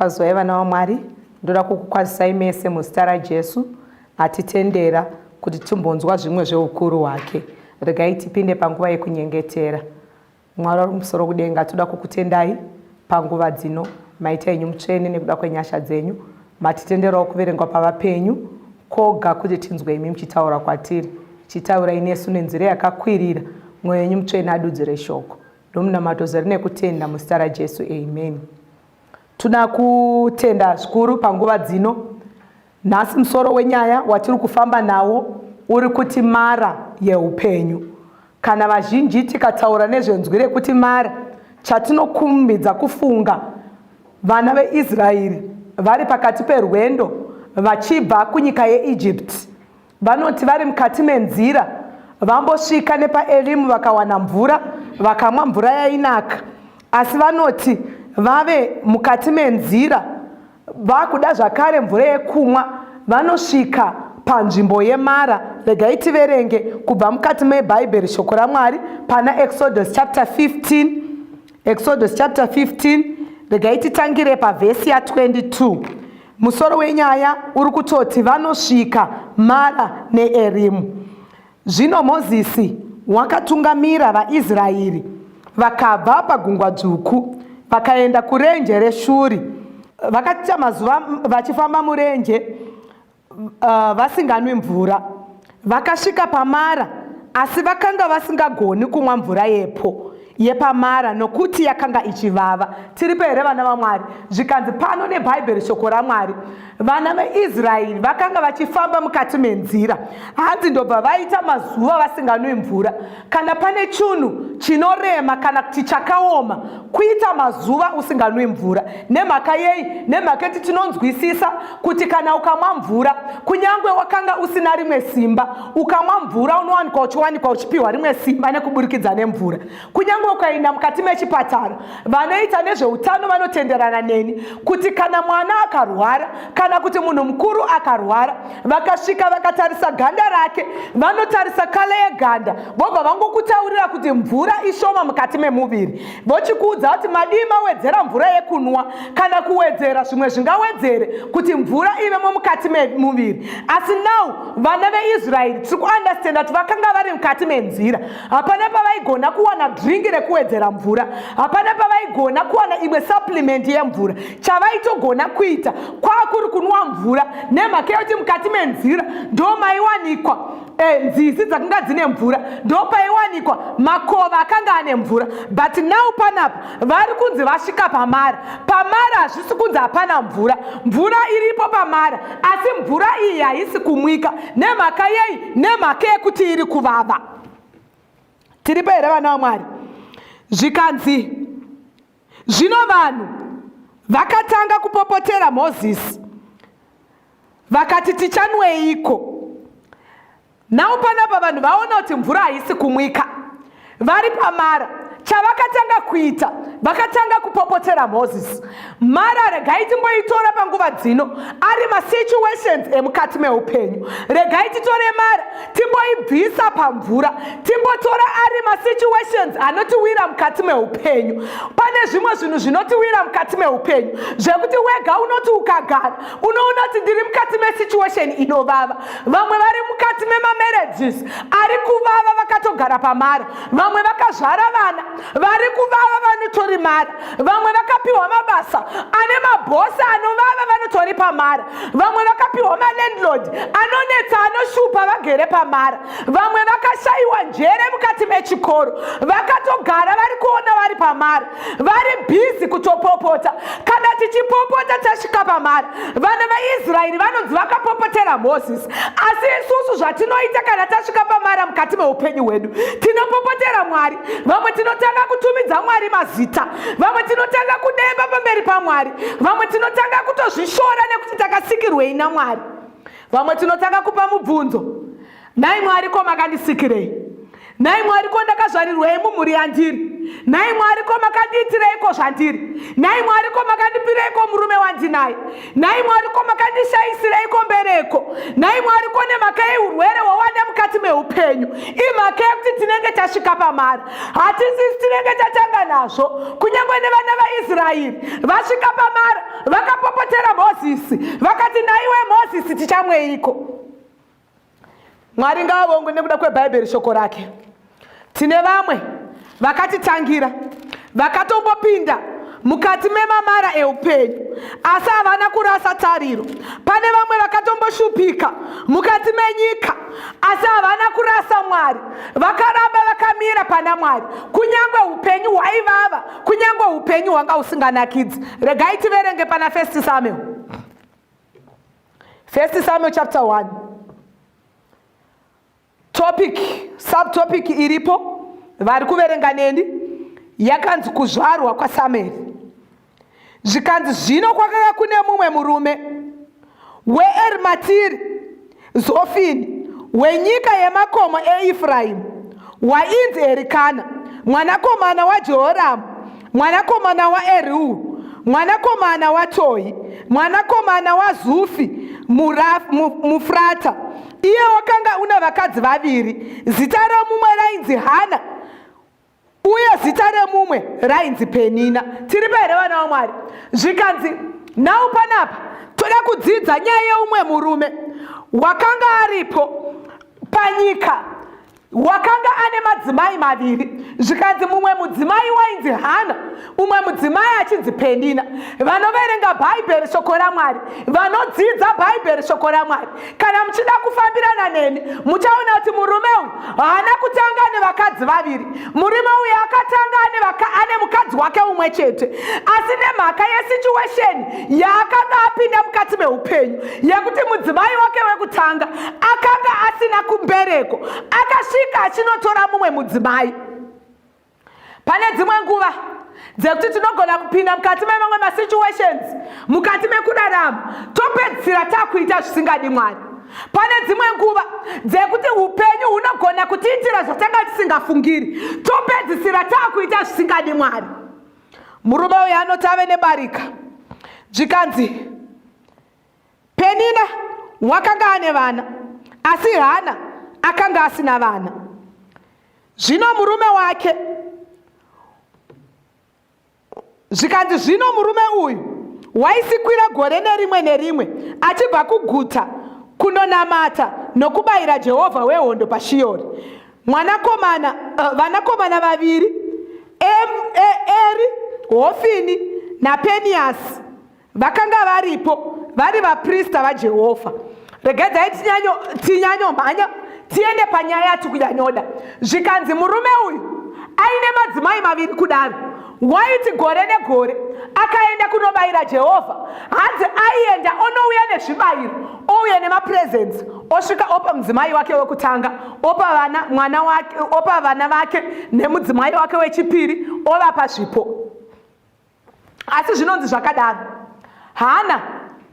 Kwazwai vana vaMwari, ndoda kukukwazisai mese muzita raJesu atitendera kuti timbonzwa zvimwe zveukuru hwake. Regai tipinde panguva yekunyengetera. Mwari wari kumusoro kudenga, toda kukutendai panguva dzino. Maita enyu mutsvene nekuda kwenyasha dzenyu. Matitenderawo kuverengwa pavapenyu koga kuti tinzwe imi muchitaura kwatiri. Chitaurai nesu nenzira yakakwirira, mwoyo yenyu mutsvene adudzire shoko. Ndomunamato zere nekutenda muzita raJesu, amen. Tuna kutenda zvikuru panguva dzino. Nhasi musoro wenyaya watiri kufamba nawo uri kuti mara yeupenyu. Kana vazhinji tikataura nezvenzwi rekuti mara, chatinokumbidza kufunga vana veIsraeri vari pakati perwendo vachibva kunyika yeEgypt Vanoti vari mukati menzira vambosvika nepaElimu vakawana mvura vakamwa mvura yainaka asi vanoti vave mukati menzira vakuda zvakare mvura yekumwa vanosvika panzvimbo yemara regai tiverenge kubva mukati mebhaibheri shoko ramwari pana exodus chapter 15 Exodus chapter 15 regai titangire pavhesi ya22 musoro wenyaya uri kutoti vanosvika mara neerimu zvino mozisi wakatungamira vaisraeri vakabva pagungwa dzvuku vakaenda kurenje reshuri vakaita mazuva vachifamba murenje uh, vasinganwi mvura vakasvika pamara asi vakanga vasingagoni kumwa mvura yepo yepamara nokuti yakanga ichivava tiripo here vana vamwari zvikanzi pano nebhaibheri shoko ramwari vana veisraeri vakanga vachifamba mukati menzira hanzi ndobva vaita mazuva vasinganwi mvura Kana pane chunhu chinorema kana kuti chakaoma kuita mazuva usinganwi mvura. Nemhaka yei? Nemhaka yekuti tinonzwisisa kuti kana ukamwa mvura, kunyange wakanga usina rimwe simba, ukamwa mvura unowanikwa uchiwanikwa uchipiwa rimwe simba nekuburikidza nemvura. Kunyange ukaenda mukati mechipatara, Vanoita nezveutano vanotenderana neni kuti kana mwana akarwara kana kuti munhu mukuru akarwara, vakasvika vakatarisa ganda rake, vanotarisa kale yeganda, vobva vangokutaurira kuti mvura ishoma mukati memuviri, vochikuudza kuti madii mawedzera mvura yekunwa kana kuwedzera zvimwe zvingawedzere kuti mvura ivemo mukati memuviri. Asi now vana veIsraeri tiri kuandastenda kuti vakanga vari mukati menzira hapana pavaigona kuwana dringi rekuwedzera mvura hapana pavaigona kuwana imwe supplement yemvura chavaitogona kuita kwakuri kunwa mvura nemhaka yekuti mukati menzira ndo maiwanikwa e, nzizi dzakanga dzine mvura ndo paiwanikwa makova akanga ane mvura but now panapa vari kunzi vasvika pamara pamara hazvisi kunzi hapana mvura mvura iripo pamara asi mvura iyi haisi kumwika nemhaka yei nemhaka yekuti iri kuvava tiripo here vana vamwari zvikanzi zvino vanhu vakatanga kupopotera mozisi vakati tichanweiko nhau panapa vanhu vaona kuti mvura haisi kumwika vari pamara chavakatanga kuita vakatanga kupopotera mozisi mara regai timboitora panguva dzino ari masituations emukati meupenyu regai titore mara timboibvisa pamvura timbotora ari masituations anotiwira mukati meupenyu pane zvimwe zvinhu zvinotiwira mukati meupenyu zvekuti wega unoti ukagara unoona kuti ndiri mukati mesituation inovava vamwe vari mukati memamarriages ari kuvava vakatogara pamara vamwe vakazvara vana vari kuvava vanotori mari vamwe vakapiwa mabasa ane mabhosi anovava vanotori pamari vamwe vakapiwa malandlord anonetsa anoshupa vagere pamari vamwe vakashayiwa njere mukati mechikoro vakatogara vari kuona vari pamari vari bhizi kutopopota kana tichipopota tasvika pamari vana vaisraeri vanonzi vakapopotera moses asi isusu zvatinoita kana tasvika pamara mukati meupenyu hwedu tinopopotera mwari vamwe tinotanga kutumidza mwari mazita vamwe tinotanga kudemba pamberi pamwari vamwe tinotanga kutozvishora nekuti takasikirwei namwari vamwe tinotanga kupa mubvunzo nhai mwari ko makandisikirei nhai mwari ko ndakazvarirwei mumhuri yandiri nhai mwari ko makandiitireiko zvandiri nhai mwari ko makandipireiko murume wandinaye nhai mwari ko makandishaisirei kombereko nhai mwari ko nemhaka yeurwere hwawane mukati meupenyu imhaka yekuti tinenge tasvika pamari hatisisi tinenge tatanga nazvo kunyange nevana vaisraeri vasvika pamari vakapopotera mozisi vakati nhaiwe mozisi tichamweiko Mwari ngaavongwe nekuda kweBhaibheri shoko rake. Tine vamwe vakatitangira vakatombopinda mukati memamara eupenyu asi havana kurasa tariro. Pane vamwe vakatomboshupika mukati menyika asi havana kurasa Mwari, vakaramba vakamira pana Mwari kunyange upenyu hwaivava, kunyange upenyu hwanga usinganakidzi. Regai tiverenge pana First Samuel. First Samuel chapter 1. Topic, subtopic iripo vari kuverenga neni yakanzi kuzvarwa kwaSamueri. Zvikanzi zvino kwakanga kune mumwe murume weErimatiri Zofini wenyika yemakomo eEfraimu wainzi Erikana mwanakomana waJehoramu mwanakomana waErihu mwanakomana waTohi mwanakomana waZufi muFrata. Iye wakanga una vakadzi vaviri, zita romumwe rainzi Hana uye zita remumwe rainzi penina tiri pahere vana vamwari zvikanzi nhau panapa toda kudzidza nyaya yeumwe murume wakanga aripo panyika wakanga ane madzimai maviri zvikanzi mumwe mudzimai wainzi hana umwe mudzimai achinzi pendina vanoverenga bhaibheri shoko ramwari vanodzidza bhaibheri shoko ramwari kana muchida kufambirana neni muchaona kuti murume uyu haana kutanga nevakadzi vaviri murume uyu akatanga ane mukadzi wake umwe chete asi nemhaka yesituesheni yaakanga apinda mukati meupenyu yekuti mudzimai wake wekutanga akanga asina kumbereko akasvika achinotora mumwe mudzimai pane dzimwe nguva dzekuti tinogona kupinda mukati memamwe masituations mukati mekurarama topedzisira takuita zvisingadi mwari pane dzimwe nguva dzekuti upenyu hunogona kutiitira zvatanga tisingafungiri topedzisira takuita zvisingadi mwari murume uyo anoti ave nebarika zvikanzi penina wakanga ane vana asi hana akanga asina vana Zvino murume wake zvikanzi zvino murume uyu waisikwira gore nerimwe nerimwe achibva kuguta kunonamata nokubayira jehovha wehondo pashiyori mwanakomana uh, vanakomana vaviri eri hofini napeniyasi vakanga varipo vari vaprista vajehovha regedzai tinyanyomhanya tiende panyaya yatikunyanyoda zvikanzi murume uyu aine madzimai maviri kudaro waiti gore negore akaenda kunobayira jehovha hanzi aienda onouya nezvibayiro ouya nemapresents osvika opa mudzimai wake wekutanga opa vana mwana wake opa vana vake nemudzimai wake wechipiri ovapa zvipo asi zvinonzi zvakadaro hana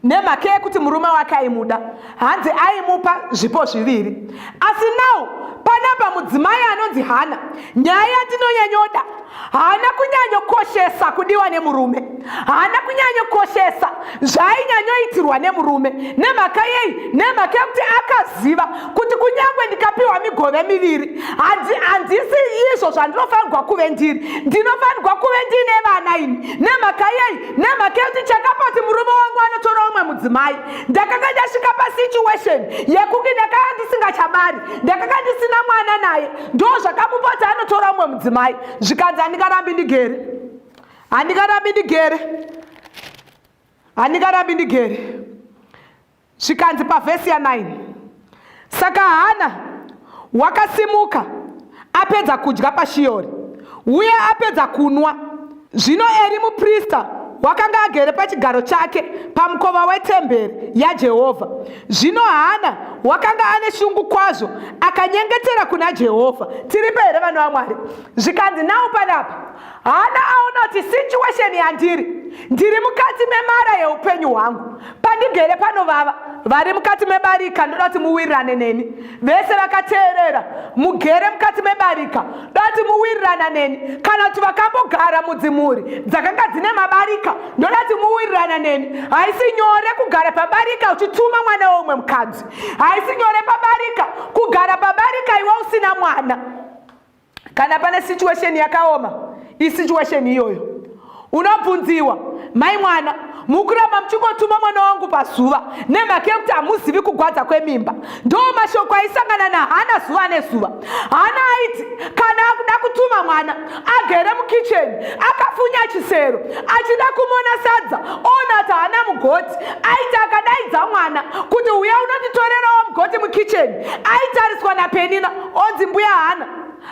nemhaka yekuti murume wake aimuda hanzi aimupa zvipo zviviri asi now panapa mudzimai anonzi hana nyaya yatinonyanyoda haana kunyanyokoshesa kudiwa nemurume haana kunyanyokoshesa zvainyanyoitirwa nemurume nemhaka yei nemhaka yekuti akaziva kuti kunyange ndikapiwa migove miviri handisi izvo zvandinofanirwa kuve ndiri ndinofanirwa kuve ndiine vana ini nemhaka yei nemhaka yekuti chakapoti murume wangu anotora umwe mudzimai ndakanga ndasvika pasituation yekunge ndakanga ndisingachabari ndakanga ndisina mwana naye ndo zvakamupoti anotora umwe mudzimai zvikanzi andingarambi ndigere handikarambi ndigere handikarambi ndigere zvikanzi pavhesi ya9 saka hana wakasimuka apedza kudya pashiyori uye apedza kunwa zvino eri muprista wakanga agere pachigaro chake pamukova wetemberi yajehovha zvino hana wakanga ane shungu kwazvo akanyengetera kuna jehovha tiripe here vana vamwari zvikanzi nawo panapa Hana aona kuti situation yandiri ndiri mukati memara yeupenyu hwangu pandigere panovava vari mukati mebarika ndoda kuti muwirirane neni vese vakateerera mugere mukati mebarika ndoda kuti muwirirana neni kana kuti vakambogara mudzimhuri dzakanga dzine mabarika ndoda kuti muwirirana neni haisi nyore kugara pabarika uchituma mwana weumwe mukadzi haisi nyore pabarika kugara pabarika iwe usina mwana kana pane situation yakaoma isituation iyoyo unobvunziwa mai mwana mukuramba muchingotuma mwana wangu pazuva nemhaka yekuti hamuzivi kugwadza kwemimba ndo mashoko aisangana nahana zuva nezuva hana aiti kana akuda kutuma mwana agere mukicheni akafunya chisero achida kumona sadza ona ti hana mugoti aiti akadaidza mwana kuti uya unonditorerawo mugoti mukicheni aitariswa napenina onzi mbuya hana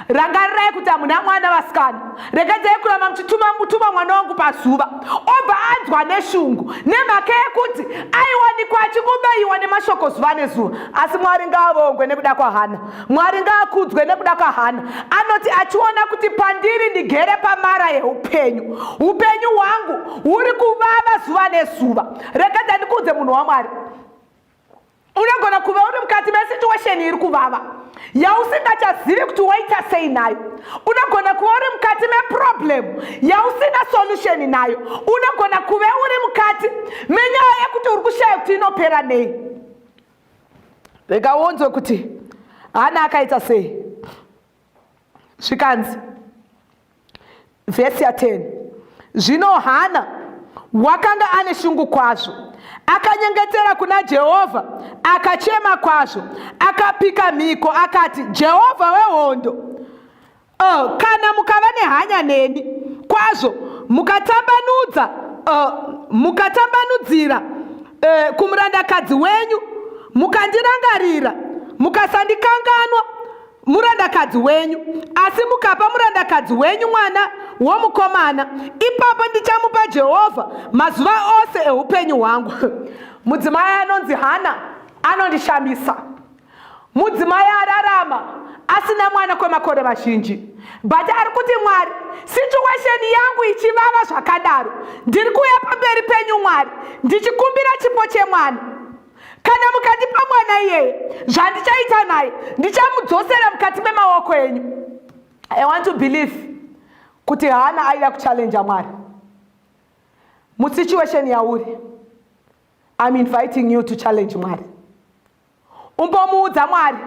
rangarirai kuti hamuna mwana vasikana regedzai kuramba muchituma mutuma mwana wangu pazuva obva anzwa neshungu nemhaka yekuti aiwanikwa achingobaiwa nemashoko zuva nezuva asi mwari ngaavongwe nekuda kwahana mwari ngaakudzwe nekuda kwahana anoti achiona kuti pandiri ndigere pamara yeupenyu upenyu hwangu huri kuvava zuva nezuva regedza ndikuudze munhu wamwari unogona kuva uri mukati mesituation iri kuvava yausingachazivi kuti waita sei nayo unogona kuva uri mukati meproblem yausina solution nayo unogona kuve uri mukati menyaya yekuti uri kushaya kuti inopera nei rega wonzwe kuti hana akaita sei zvikanzi vhesi ya 10 zvino hana wakanga ane shungu kwazvo akanyengetera kuna jehovha akachema kwazvo akapika mhiko akati jehovha wehondo uh, kana mukava nehanya neni kwazvo mukatambanudza uh, mukatambanudzira uh, kumurandakadzi wenyu mukandirangarira mukasandikanganwa murandakadzi wenyu asi mukapa murandakadzi wenyu mwana womukomana ipapo ndichamupa jehovha mazuva ose eupenyu hwangu mudzimai anonzi hana anondishamisa mudzimai ararama asina mwana kwemakore mazhinji but ari kuti mwari situesheni yangu ichivava zvakadaro ndiri kuuya pamberi penyu mwari ndichikumbira chipo chemwana kana mukandipa mwana iyeye zvandichaita naye ndichamudzosera mukati memaoko enyu i want to believe kuti hana aida kuchallenja mwari musituation yauri im inviting you to challenge mwari umbomuudza mwari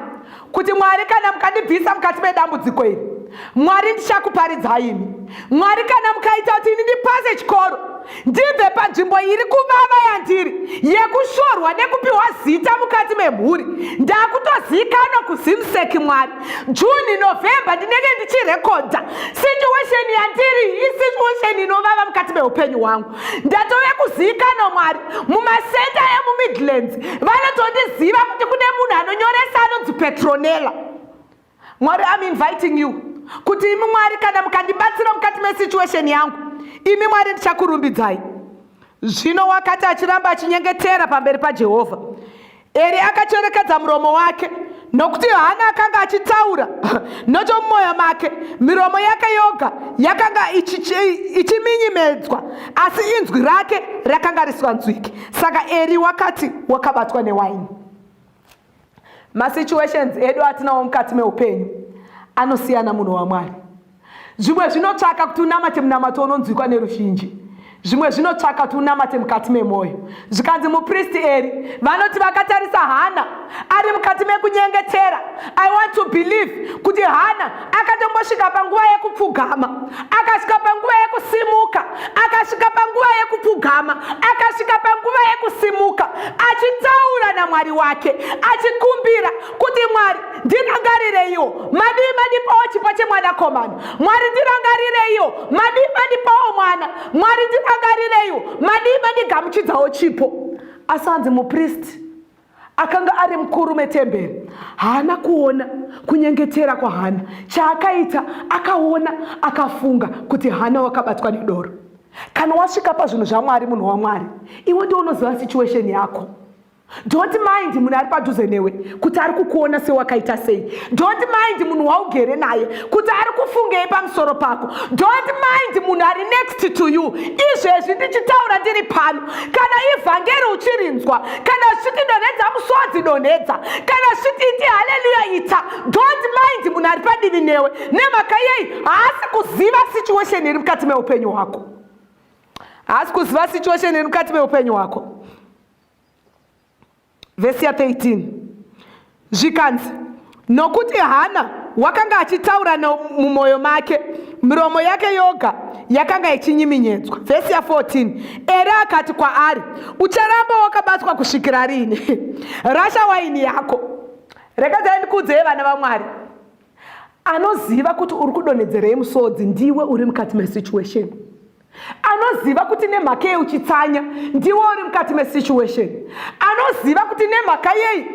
kuti mwari kana mukandibvisa mukati medambudziko iri mwari ndichakuparidzai imi mwari kana mukaita kuti ini ndipase chikoro ndibve panzvimbo iri kuvava yandiri yekushorwa nekupiwa zita mukati memhuri ndakutozikanwa kuzimseki mwari juni novembe ndinenge ndichirekodha situation yandiri isituation inovava mukati meupenyu hwangu ndatove kuzivikanwa mwari mumasenta emumidlands vanotondiziva kuti kune munhu anonyoresa anonzi petronella mwari am inviting you kuti imi mwari kana mukandibatsira mukati mesituation yangu imi mwari ndichakurumbidzai zvino wakati achiramba achinyengetera pamberi pajehovha Eri akacherekedza muromo wake nokuti Hana akanga achitaura nochomumwoyo make. Miromo yake yoga yakanga ichiminyimedzwa, asi inzwi rake rakanga risinganzwiki. Saka Eri wakati wakabatwa newaini. Masituations edu atinawo mukati meupenyu anosiyana munhu waMwari. Zvimwe zvinotsvaka kuti unamate munamato unonzwikwa neruzhinji. Zvimwe zvinotsvaka kuti unamate mukati memwoyo. Zvikanzi mupristi Eri vanoti vakatarisa Hana ari mukati mekunyengetera. I want to believe kuti Hana akatombosvika panguva yekupfugama, akasvika panguva yekusimuka, akasvika panguva yekupfugama, akasvika panguva yekusimuka, achitaura naMwari wake, achikumbira kuti mwari ndirangarireiwo madii mandipawo chipo chemwanakomana mwari ndirangarireiwo madii mandipawo mwana mwari ndirangarireiwo madii mandigamuchidzawo chipo asi hanzi mupristi akanga ari mukuru metemberi haana kuona kunyengetera kwahana chaakaita akaona akafunga kuti hana wakabatwa nedoro kana wasvika pazvinhu zvamwari munhu wamwari iwe ndiwo unoziva situation yako Don't mind munhu ari padhuze newe kuti ari kukuona sewakaita sei. Don't mind munhu waugere naye kuti ari kufungei pamusoro pako. Don't mind munhu ari next to you. Izvezvi ndichitaura ndiri pano. Kana ivhangeri uchirinzwa, kana zviti donhedza musodzi donhedza, kana zviti iti haleluya ita. Don't mind munhu ari padivi newe. Nemhaka yei haasi kuziva situation iri mukati meupenyu hwako. Haasi kuziva situation iri mukati meupenyu hwako. vhesi ya 13 zvikanzi nokuti hana wakanga achitaura mumwoyo make miromo yake yoga yakanga ichinyiminyedzwa vhesi ya 14 ere akati kwaari ucharamba wakabatwa kusvikira riini rasha waini yako rekedzai ndikuudzei vana vamwari anoziva kuti uri kudonhedzerei musodzi ndiwe uri mukati mesituation anoziva kuti nemhaka yei uchitsanya ndiwo uri mukati mesituation anoziva kuti nemhaka yei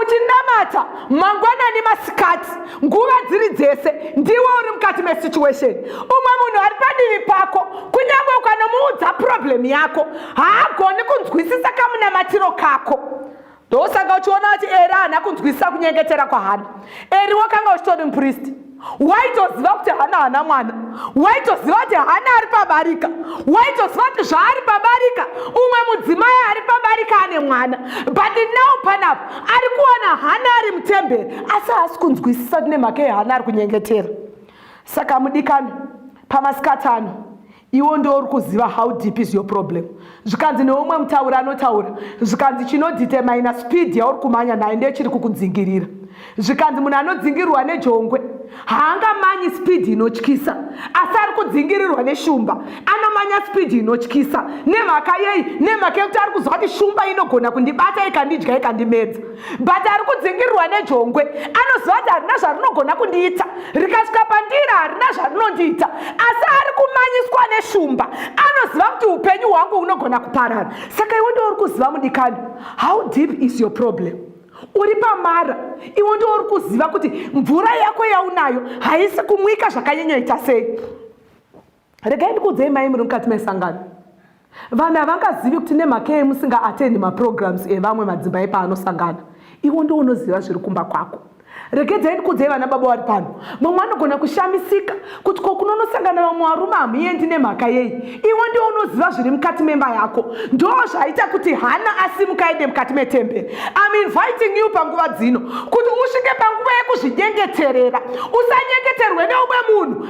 uchinamata mangwanani masikati nguva dziri dzese ndiwo uri mukati mesituation umwe munhu ari padivi pako kunyange ukanomuudza problem yako haagoni kunzwisisa kamunamatiro kako ndosaka uchiona kuti eri haana kunzwisisa kunyengetera kwahana eri wakanga uchitori mupristi waitoziva kuti hana hana mwana waitoziva kuti hana ari pabarika waitoziva kuti zvaari pabarika umwe mudzimai ari pabarika ane mwana but now panapa ari kuona hana ari mutemberi asi haasi kunzwisisa kuti nemhaka yehana ari kunyengetera saka mudikani pamasikatano iwo ndo uri kuziva how deep is your problem zvikanzi neumwe mutauri anotaura zvikanzi chinodetermina speed yauri kumanya nayo ndiyo chiri kukudzingirira zvikanzi munhu anodzingirirwa nejongwe haangamanyi speed inotyisa asi ari kudzingirirwa neshumba anomanya speed inotyisa nemhaka yei nemhaka yekuti ari kuziva kuti shumba inogona kundibata ikandidya ikandimedza but ari kudzingirirwa nejongwe anoziva kuti harina zvarinogona kundiita rikasvika pandira harina zvarinondiita asi ari kumanyiswa neshumba anoziva kuti upenyu hwangu hunogona kuparara saka iwe ndiwo uri kuziva mudikani how deep is your problem uri pamara iwe ndiwo uri kuziva kuti mvura yako yaunayo haisi kumwika zvakanyanyoita sei regai ndikuudzei mai muri mukati mesangano vanhu havangazivi kuti nemhaka yei musingaatendi maprograms evamwe madzimai paanosangana iwo ndiwo unoziva zviri kumba kwako regedzai ndikuudzei vana baba vari pano mamwe anogona kushamisika kuti ko kunonosangana vamwe varume hamuendi nemhaka yei iwo ndiwo unoziva zviri mukati memba yako ndo zvaita kuti hana asimuka ende mukati metemberi im inviting you panguva dzino kuti usvike panguva yekuzvinyengeterera usanyengeterwe neumwe munhu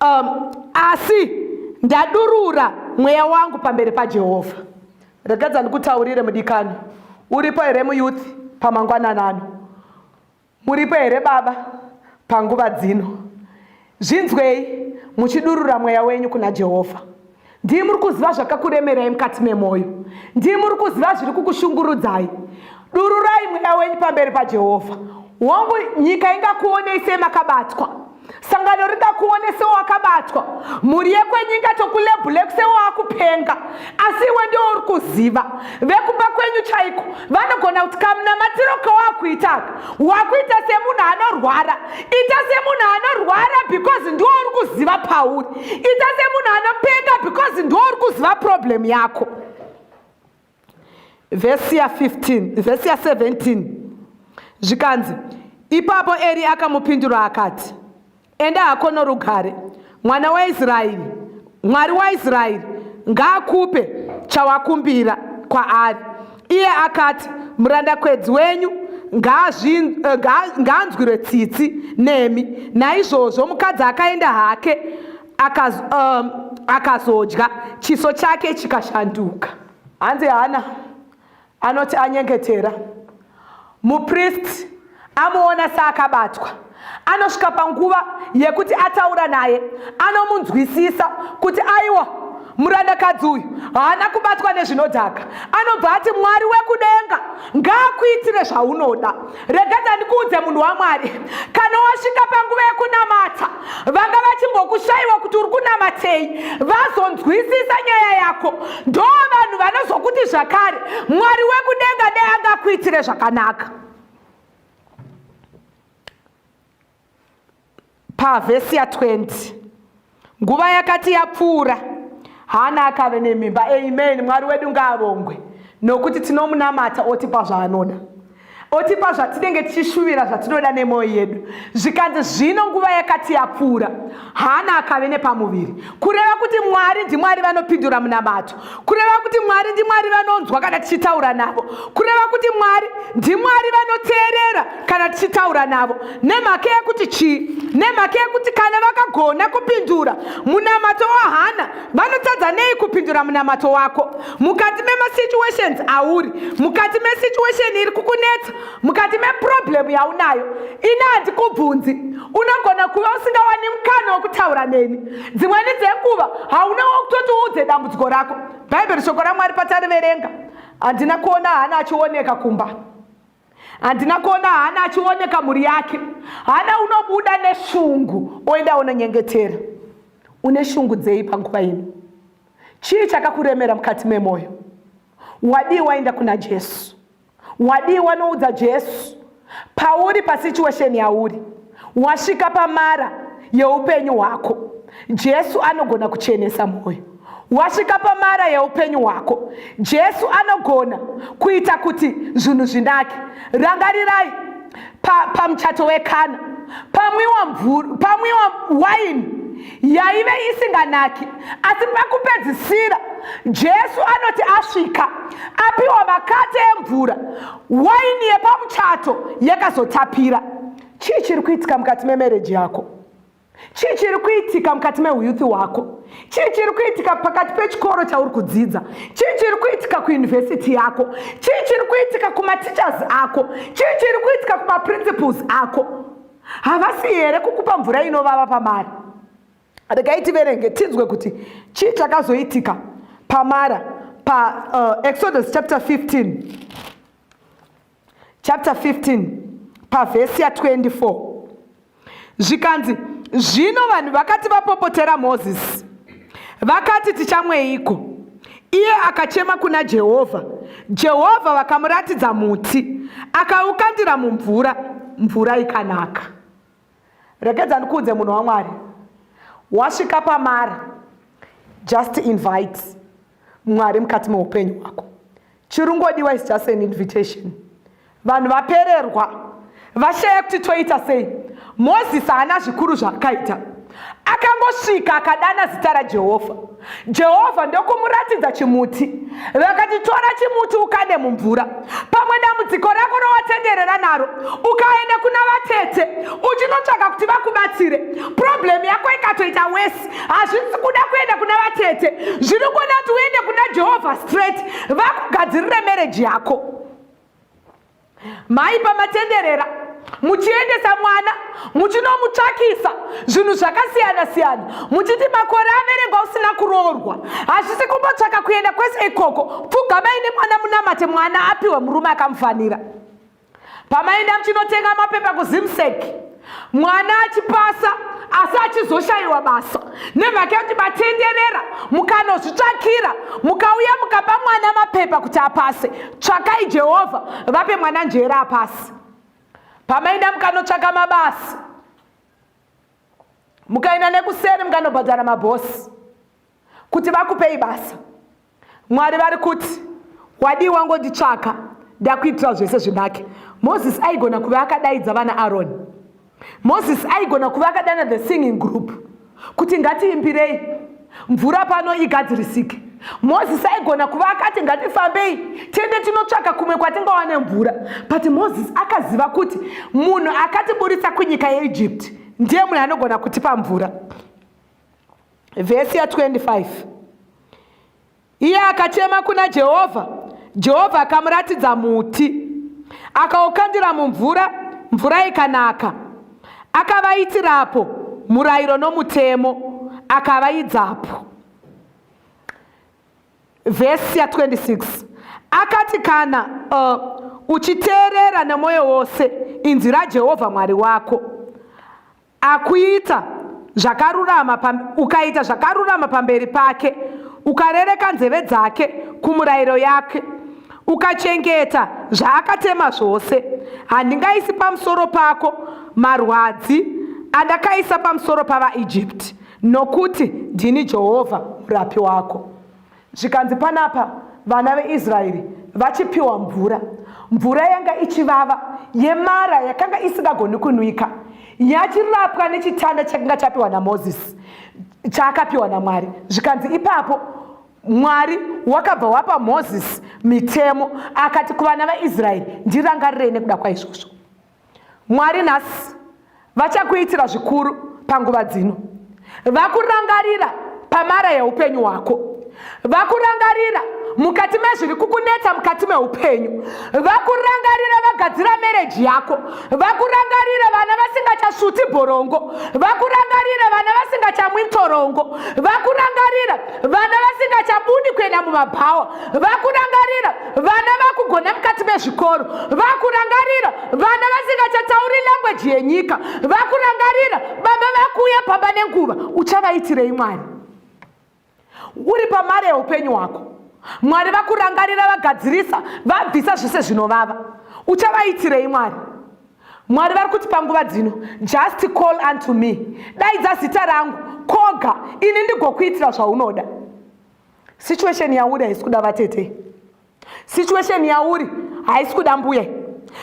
um, asi ndadurura mweya wangu pamberi pajehovha regadza ndikutaurire mudikani uripo here muyuth pamangwananano muripo here baba panguva dzino zvinzwei muchidurura mweya wenyu kuna jehovha Ndiye muri kuziva zvakakuremerai mukati memwoyo. Ndiye muri kuziva zviri kukushungurudzai. Dururai mweya wenyu pamberi paJehovha. Hongu, nyika ingakuonei semakabatwa. Sangano ringakuone sewakabatwa. Mhuri yekwenyu ingatokulebhule sewakupenga. Asi iwe ndiwo uri kuziva. Vekumba kwenyu chaiko vanogona kuti kamunamatiro kawakuitaka wakuita semunhu anorwara. Ita semunhu anorwara because ndiwo uri kuziva pauri. ita semunhu anopeka because ndo uri kuziva problem yako vhesi ya 15 vhesi ya 17 zvikanzi ipapo eri akamupindura akati enda hako norugare mwana waisraeri mwari waisraeri ngaakupe chawakumbira kwaari Iye akati, Murandakwedzi wenyu eh, ngaanzwirwe tsitsi nemi. Naizvozvo mukadzi akaenda hake eh, akazodya, chiso chake chikashanduka. Hanzi Hana anoti anyengetera. Mupristi amuona saakabatwa, anosvika panguva yekuti ataura naye, anomunzwisisa kuti aiwa murandakadzi uyu haana kubatwa nezvinodhaka. Anobva ati, Mwari wekudenga ngaakuitire zvaunoda. Rega ndandikuudze munhu waMwari, kana wasvika panguva yekunamata, vanga vachimbokushaiwa kuti uri kunamatei vazonzwisisa nyaya yako ndo vanhu vanozokuti zvakare mwari wekudenga dei angakuitire zvakanaka pavhesi ya 20 nguva yakati yapfuura hana akave nemimba amen mwari wedu ngaavongwe nokuti tinomunamata otipa zvaanoda otipa zvatinenge tichishuvira zvatinoda nemwoyo yedu zvikanzi zvino nguva yakati yapfuura hana akave nepamuviri kureva kuti mwari ndimwari vanopindura munamato kureva kuti mwari ndimwari vanonzwa kana tichitaura navo kureva kuti mwari ndimwari vanoteerera kana tichitaura navo nemhaka yekuti chii nemhaka yekuti kana vakagona kupindura munamato wahana vanotadza nei kupindura munamato wako mukati memasituations auri mukati mesituation iri kukunetsa mukati meproblem yaunayo ini handikubvunzi unogona kuva usingawani mukana wokutaura neni dzimweni dzekuva hauna wokutoti uudze dambudziko rako bhaibheri shoko ramwari patariverenga handina kuona hana achioneka kumba handina kuona hana achioneka mhuri yake hana unobuda neshungu oenda unonyengetera une shungu dzei panguva ino Chii chakakuremera mukati memwoyo? Wadii waenda kuna Jesu? Wadii wanoudza Jesu pauri pasituation yauri? Wasvika pamara yeupenyu hwako, Jesu anogona kuchenesa mwoyo. Wasvika pamara yeupenyu hwako, Jesu anogona kuita kuti zvinhu zvinake. Rangarirai pamuchato pa wekana pamwiwa mvura, pamwiwa waini yaive isinganaki asi pakupedzisira jesu anoti asvika apiwa makate emvura waini yepamuchato yakazotapira chii chiri kuitika mukati memereji yako chii chiri kuitika mukati meuyuthi hwako chii chiri kuitika pakati pechikoro chauri kudzidza chii chiri kuitika kuyunivhesiti yako chii chiri kuitika kumatichers ako chii chiri kuitika kumaprinciples ako havasi here kukupa mvura inovava pamari regai tiverenge tinzwe kuti chii chakazoitika pamara paexodus uh, chapter 15 chapter 15 pavhesi ya24 zvikanzi zvino vanhu vakati vapopotera mozisi Vakati, Tichamweiko? Iye akachema kuna Jehovha. Jehovha vakamuratidza muti, akaukandira mumvura, mvura ikanaka. Rekedza ndikuudze munhu waMwari, wasvika pamara, just invite Mwari mukati meupenyu hwako. chirungodiwa is just an invitation vanhu vapererwa vashaya kuti toita sei mozisi haana zvikuru zvaakaita akangosvika akadana zita rajehovha jehovha ndokumuratidza chimuti vakati tora chimuti ukande mumvura pamwe dambudziko rako rowatenderera naro ukaenda kuna vatete uchinotsvaka kuti vakubatsire problemu yako ikatoita wesi hazvisi kuda kuenda kuna vatete zviri kuda kuti uende kuna jehovha straight vakugadzirire mereji yako mai pamatenderera muchiendesa mwana muchinomutsvakisa zvinhu zvakasiyana siyana muchiti makore averengwa usina kuroorwa hazvisi kumbotsvaka kuenda kwese ikoko pfugamai nemwana munamate mwana apiwe murume akamufanira pamaenda muchinotenga mapepa kuzimsek mwana achipasa asi achizoshayiwa basa nemhaka yekuti matenderera mukanozvitsvakira mukauya mukapa mwana mapepa kuti apase tsvakai jehovha vape mwana njere apasi pamaenda mukanotsvaka mabasa mukaenda nekuseri mukanobhadhara mabhosi kuti vakupei basa mwari vari kuti wadii wangonditsvaka ndakuitira zvese zvinake moses aigona kuva akadaidza vana aroni moses aigona kuva akadana the singing group kuti ngatiimbirei mvura pano igadzirisike moses aigona kuva akati ngatifambei tiende tinotsvaka kumwe kwatingawane mvura but moses akaziva kuti munhu akatiburitsa kunyika yeegypt ndiye munhu anogona kutipa mvura vhesi ya 25 iye akachema kuna jehovha jehovha akamuratidza muti akaukandira mumvura mvura ikanaka akavaitirapo murayiro nomutemo akavaidzapo vhesi ya 26 akati kana uh, uchiteerera nemwoyo wose inzwi rajehovha mwari wako Akuita zvakarurama ukaita zvakarurama pamberi pake, ukarereka nzeve dzake kumurayiro yake, ukachengeta zvaakatema zvose, handingaisi pamusoro pako marwadzi andakaisa pamusoro pavaIjipiti, nokuti ndini Jehovha murapi wako. Zvikanzi panapa vana veIsraeri vachipiwa mvura, mvura yanga ichivava yemara yakanga isingagoni kunwika, yachirapwa nechitanda chakanga chapiwa naMozisi, chaakapiwa naMwari. Zvikanzi ipapo Mwari wakabva wapa Mozisi mitemo, akati kuvana vaIsraeri, ndirangarirei nekuda kwaizvozvo. Mwari nhasi vachakuitira zvikuru panguva dzino. Vakurangarira pamara yeupenyu hwako. Vakurangarira mukati mezviri kukunetsa mukati meupenyu. Vakurangarira vagadzira mereji yako. Vakurangarira vana vasingachasvuti borongo. Vakurangarira vana vasingachamwi ntorongo. Vakurangarira vana vasingachabudi kuenda mumabhawa. vakurangarira vana vakugona mukati mezvikoro vakurangarira vana vasingachatauri langweji yenyika vakurangarira baba vakuuya pamba nenguva uchavaitirei mwari uri pamari yeupenyu hwako mwari vakurangarira vagadzirisa vabvisa zvese zvinovava uchavaitirei mwari mwari vari kuti panguva dzino just call unto me daidza zita rangu koga ini ndigokuitira zvaunoda situation yauri haisi kuda vatete situation yauri haisi kuda mbuya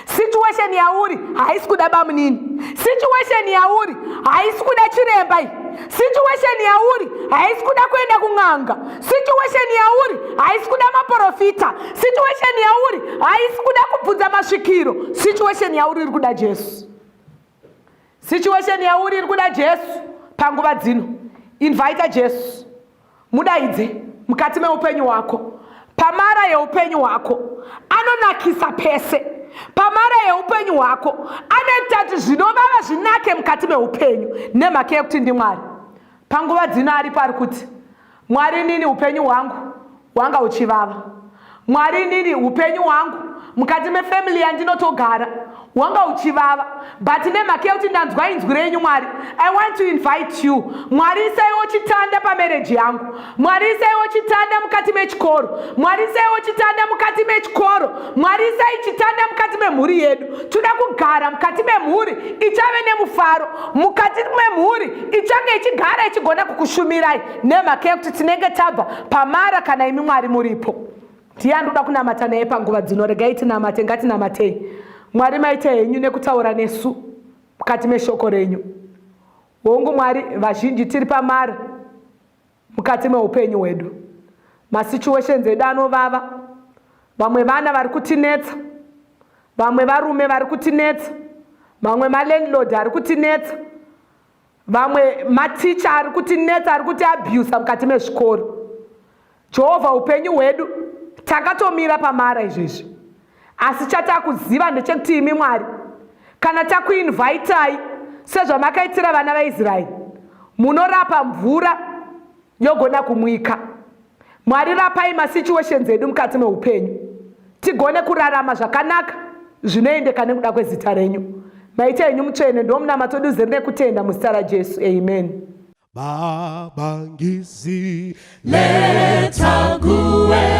situation yauri haisi kuda bamunini situation yauri haisi kuda chiremba iyi situation yauri haisi kuda kuenda kun'anga situation yauri haisi kuda maprofita situation yauri haisi kuda kubvunza masvikiro situation yauri iri kuda jesu situation yauri iri kuda jesu panguva dzino invita jesu Mudaidze mukati meupenyu hwako, pamara yeupenyu hwako, anonakisa pese pamara yeupenyu hwako, anoita kuti zvinovava zvinake mukati meupenyu nemhaka yekuti ndiMwari. Panguva dzino aripo ari kuti, Mwari, inini upenyu hwangu hwanga uchivava. Mwari inini upenyu hwangu mukati mefamily yandinotogara hwanga uchivava but nemhaka yekuti ndanzwa inzwi renyu mwari i want to invite you mwari isaiwo chitanda pamereji yangu mwari isaiwo chitanda mukati mechikoro mwari isaiwo chitanda mukati mechikoro mwari isai chitanda mukati memhuri yedu toda kugara mukati memhuri ichave nemufaro mukati memhuri ichange ichigara ichigona kukushumirai nemhaka yekuti tinenge tabva pamara kana imi mwari muripo ndiye andoda kunamata naye panguva dzino regai tinamate ngatinamatei mwari maita henyu nekutaura nesu mukati meshoko renyu hongu mwari vazhinji tiri pamara mukati meupenyu hwedu masituations edu anovava vamwe vana vari kutinetsa vamwe varume vari kutinetsa mamwe malandlord ari kutinetsa vamwe maticha ari kuti netsa ari kuti abusa mukati mezvikoro jehovha upenyu hwedu takatomira pamara izvezvi asi chatakuziva ndechekuti imi mwari kana takuinvaitai sezvamakaitira vana vaisraeri munorapa mvura yogona kumwika. Mwari rapai masituations edu mukati meupenyu tigone kurarama zvakanaka zvinoendeka nekuda kwezita renyu. Maita enyu mutsvene ndomunamato duze rine kutenda muzita raJesu. Amen. Baba ngizileta kuwe